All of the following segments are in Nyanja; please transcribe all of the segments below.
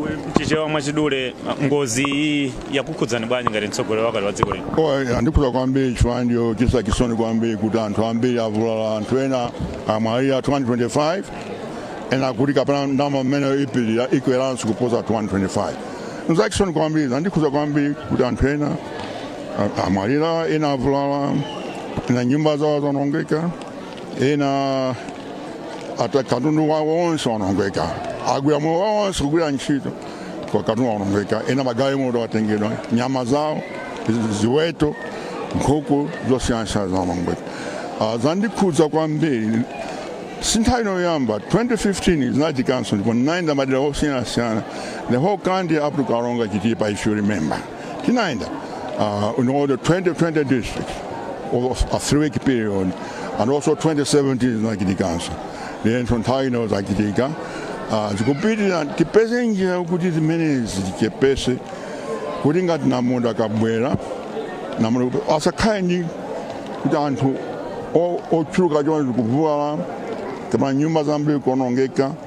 M'Chichewa mwachidule, ngozi iyi yakukhudzani bwanji ngati mtsogoleri wakale wa dziko lino? O, yandikhuza kwambiri chifukwa ndi yochisa chisoni kwambiri kuti anthu ambiri avulala anthu ena amwalira 225 ena akuti kapena nambala mmene ipirira ikweranso kuposa 225 nzachisoni kwambiri zandikhuza kwambiri kuti anthu ena a- amwalira ena avulala ena nyumba zawo zaonongeka ena katundu wawo wonse wawonongeka agwira moyo wawo wonse kugwira ntchito kwa katundu wawonongeka ena magalimoto atengedwa nyama zawo zi- ziweto nkhuku zosiyanasiyana zawonongeka Ah, zandikhudza kwambiri si nthawi ino yoyamba 2015 zinachitikanso ndipo ndinayenda madera osiyanasiyana the whole country up to karonga chitipa if you remember Tinaenda uh, in all the 20 districts over a three-week period and also 2017 zinachitikanso then nthawi ino zachitika uh, zikupitira tipeze njira kuti zimenezi tichepese kuti ngati namondwe akabwera namondwe asakhale ndi kuti anthu o- ochuluka chonchi kuvulala kapena nyumba zambiri kuonongeka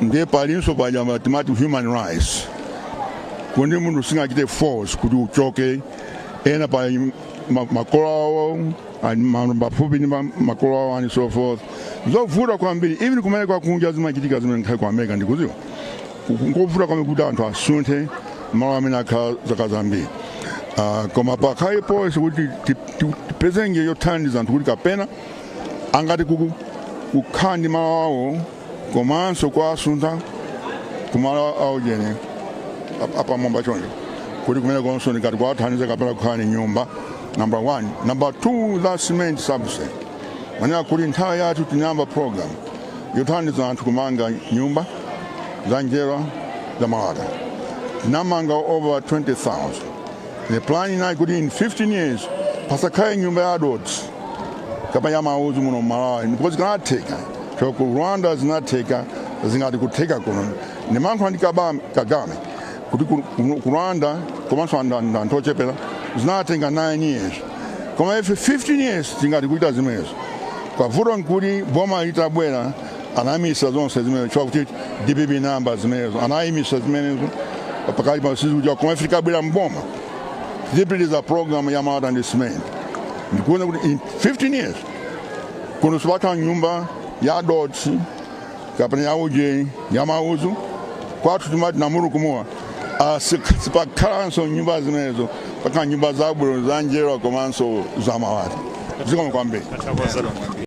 ndiye palinso paja ma- timati human rights kuti munthu sungachite force kuti uchoke ena pa ma- makolo awo ali ma- pafupi ndi ma- makolo awo and so forth zovuta kwambiri even kumayiko akunja zimachitika zimene ndakhala ku america ndikuziwa nkovuta kwambiri kuti anthu asunthe malo amene akhala zaka zambiri Ah, koma pakhale policy kuti ti- ti- tipeze njira yothandiza anthu kuti kapena angati kuku- kukhala ndi malo awo komanso kuwasuntha ku malo aujeni ap- apamwamba choncho kuti kumenekonso tingati kuwathandiza kapena kukhala ndi nyumba number one number two that cement subsidy manena kuti nthawi yathu tinayamba program yothandiza anthu kumanga nyumba za njerwa za malata tinamanga over 20000 Nde plan inali kuti in 15 years pasakhale nyumba ya dothi kapena ya mauzu muno mmalawi ndipo zikanatheka chifukwa ku rwanda zinatheka zingati kutheka kuno ndimalankhula ndi Kabam- kagame kuti ku- ku- ku rwanda komanso anthu- anthu anthu ochepera zinatenga 9 years koma ife 15 years tingati kuita zimenezo koma vuto nkuti boma litabwera anayimisa zonse zimenezo chifukwa kuti dpp inayamba zimenezo anayimisa zimenezo pakati pa sisi kuja koma ife tikabwera mboma tipitiriza program ya malata ndi simenti ndikuona kuti in 15 years kuno sipakhala nyumba ya dothi kapena ya uje ya mauzu kwathu timati namurukunuwa Ah, si- sipakhalanso nyumba zimenezo pakhala nyumba zabwino za njerwa komanso za malata zikomo kwambiri